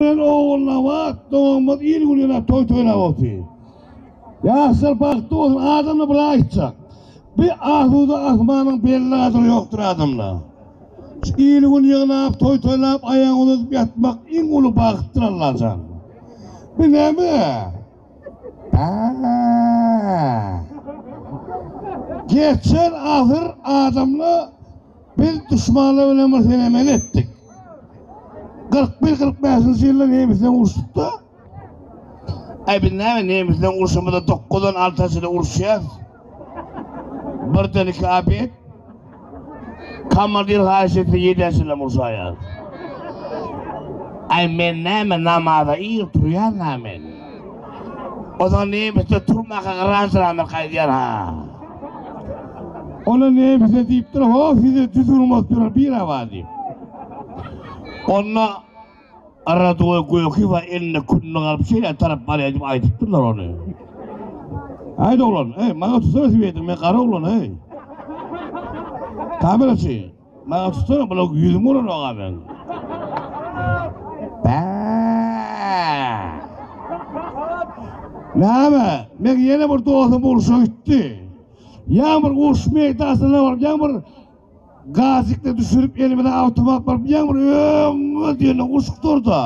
Men Ogulnabat dogumyz il gününe toý toýlap otyr. Ýaşlar bagtly bolsun adamda bir aýtjak bi asuda asmanyň belli gadyry ýokdur adamda. Şu il gün ýygnap toý toýlap aýagy uzadyp ýatmak iň uly bagtdyr Allajan. Bi näme? Bäh. Geçen asyr adamda Biz duşmanlar bilen bir senemeli etdik. 41-45-nji ýylda nemes bilen uruşypda. Äý biz näme nemes bilen uruşamyzda dokuzdan alta çenli uruşýarys. Birden iki abet. Komandir haýyş etse ýedä çenlem urşaýarys. Äý men näme namaza ir turýanna men. Ozal nemisde turmaka garaşylandyr gaýdýan-ha. Ol-a nemise diýipdir, Ho, size düzgün bolup ýörer bir awa diýip. Onda Radoý Göýekiwa elinde kündük alyp şeýle tarap barýar diýip aýdypdyrlar ony. Haýt oglan, heý, maňa tussana swedri, men gara oglan, heý. Kameraçy. Maňa tutsana bula ýüzüň bolan aga men. Näme? Men ýene bir dostum bolşa gitdi. Ýa bir uruş meýdasyna baryp, ýa bir gazikde düşürip elimize awtomat baryp, ýa bir öňe diýen uşuk durda.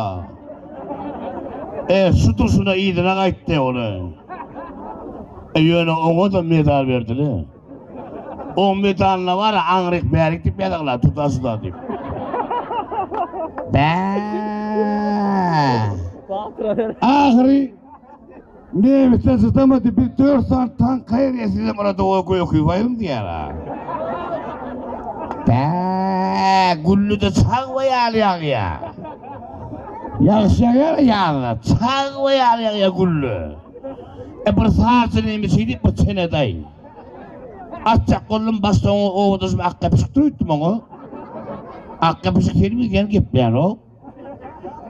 E, şu durşuna ýyzyna gaýtdy ony. E, ýöne oňa da medal berdiler. O medalna bar aňryk bärik dip ýazagla tutasda dip. Bä. Ahyry Nebitde sytamady bir dört san tank kaýr ýesizem orada o gökü bayım diýär ha. Bä, gülli de çag we ýaly ýagýa. Ýagşy ýagýar ýagda, çag we ýaly ýagýa gülli. E bir sazçy neme şeýdip bu çenedaý. Atjak boldum başda oňa owa düşüp ak gepişikdir öýtdüm oňa. Ak gepişik film ýene gepleýärok.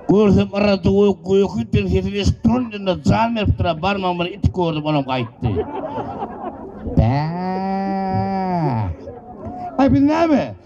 Görsem yryldy we göýäki bir sesini eşip turan ýerinde jan beripdir barmagym bilen it gördüm olam gaýtdy. Bä. Aý biz näme?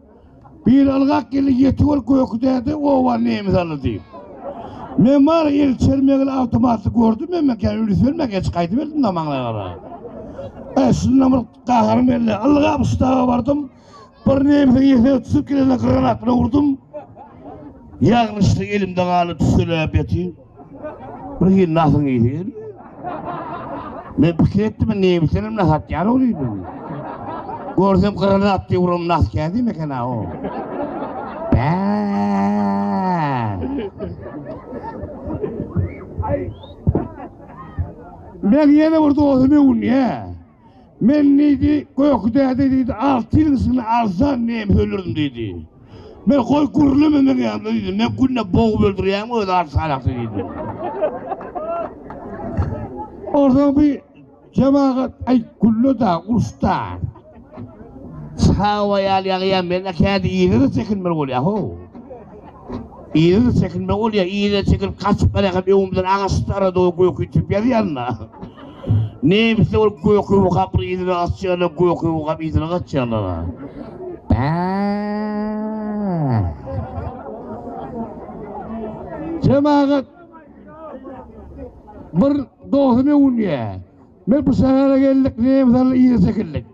Bir ylgak geldi ýetik ol göki däde oba nemes alydy. Men bar el çermegli awtomaty gördüm emme kän üns bermek eç gaýdyp geldim da maňlaýa gara. E şunda bir gaharym geldi. Ylgap ştaba bardym. Bir nemesiň ýesine tutup gelende granat bilen urdum. Ýagnyşlyk elimde galdy tüsselap ýatyn. Bir hil nasyň ýiti gelýär. Men pikir etdim, neýmişlerim nahat ýar olydy. Görsem gyrana atdy urum nas kädi meken ha o. Bä. Men ýene bir dostumy unyýa. Men diýdi, Göki däde diýdi, alty ýylyň içinde alsan nemes öldürdim diýdi. Men goý gürleme meň ýanymda diýdim, men günde bogup öldürýäňmi öz alty salakçy diýdim. Ortaň bir jemagat aý gülle-da, uruş-da. Hawa ýaly ýagýar, men-ä käte yzyna çekinmeli bolýa-how. Yzyna çekinmeli bolýa, yzyna çekilip gaçyp barýarkam öňümden agaç-dara doly göki itip ýazýanda. Nemisler ol göküwi gapyny yzyna açýarlar, göküwi gapy yzyna gaçýarlar-a. Jemagat bir dostum öwünýä. Men bu şähere geldik, nemis aly yza çekildik.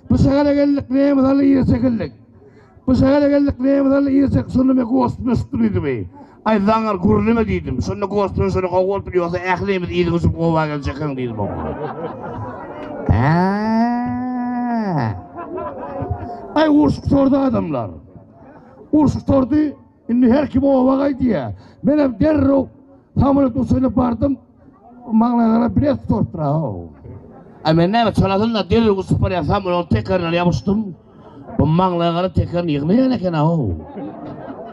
Bu şähere geldik, nemis aly yza çekildik. Bu şähere geldik, nemüs aldy, irşek şunumy gosduna şutdy diýdimi? Aý, zaňňar gürleme diýdim. Şonda gosduna şuny gowy bolupdyr, ýogsa ählimiz yzyň uçup gowa geljekäň diýdim oňa. Aý, urşup sordy adamlar. Urşup sordy. Indi her kim oba gaý diýýär. Menem derrew samolýot uçuryna bardym. Maňlaýyma garap bilet sorupdyr-aw. A men näme, çalasynda derrew uçup barýan samolýotyň tekerine ýapyşdym. Bu maňlaýa garap tekerini ýygnaýan eken-aw.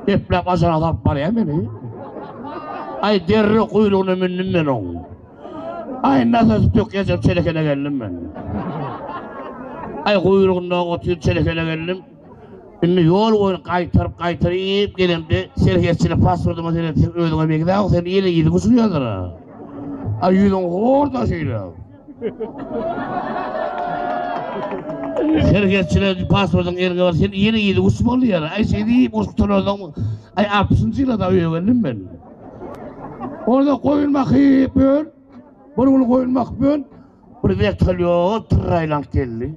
Epläp ajara salyp barýar meni. Aý, derrew guýrugyna mündüm men oň. Aý, nasosy tökýänçäm çelekene geldim men. Aý, guýrugynda otyr çelekene geldim. Indi ýol boýun gaýtaryp gaýtaryp iýip gelemde serhetçini pasportyma seretseň özüňe begdäw sen ýene ýüzüň uçurýadyr a. A ýüzüň horda şeýle. Serhetçine pasportyň eliňe bar sen ýene ýüzüň uç boldy ýaly aý şeý diýip uç gutaransoň aý altmyşynjy ýylada öýe geldim men. Onda goýun bakyp ýör. Bir gün goýun bakyp ýör. Bir wertolýot tyrraýlanyp geldi.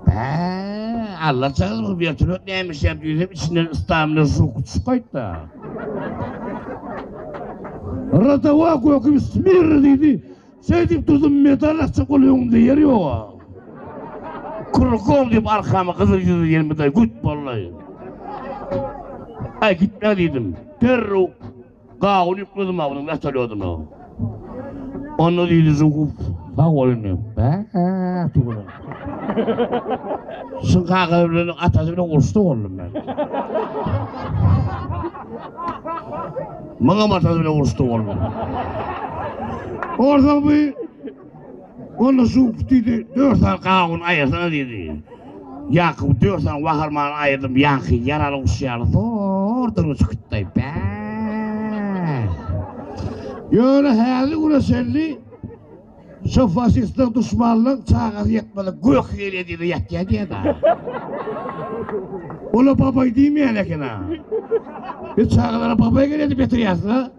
Bäh, allajygyz bu wertolýot nämişýär diýsem, içinden ystamyna şuwk düşüp gaýtdy. Rotowa göküp smirr diýdi. Şeýdip durdum, medal açjak bolup öňümde ýer ýog-a. Krukom diýip arkama gyzyl ýüzli ýermedal güt boldy. Aý gitme diýdim. Derrew. Gawun ýükledimaw onuň wetolýodyna. Onda diýdi Žuguw, Sag bol indi, bäh-ä-ä-ti gürrüň. Şuň kakasyny bilen, atasy bilen uruşda boldum men. Muňam atasy bilen uruşda boldum. Onsoň bu. Onda şu diýdi, dört sany gawun aýyrsaňa diýdi. Ýakup dört sany waharmany aýyrdym, ýaňky ýaraly guş ýaly zor dyrgy çykytdaý. Bä! Ýöne häzir güne çenli şu faşistler, duşmanlar çagasy ýetmedik gök ýel ýediler, ýatýar diýýär-de. Olar babaý diýmeýän eken-a. Biz çagalara babaý gelýär diýip ýatyrýarys-a.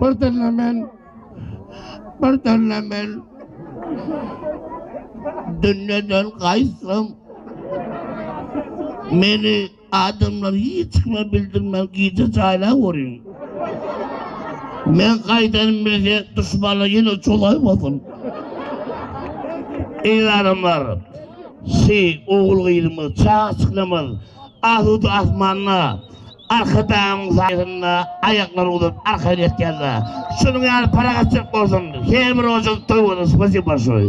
Bir dille men, bir dille men Dünneden gaýtsam Meni adamlar hiç kime bildirmän gije jaýlap görýün Men gaýdanym bilse duşmanlar ýene çolaýmasyn Eýranymlar Şi ogul gyzymyz çaga çyklamaz Asuda asmanda Arkadagyň saýasynda aýaklary uzap arka geçýärler. Şunuň ýaly parahatçylyk bolsun her bir ojuň toý bolsun spasibo bolşoý.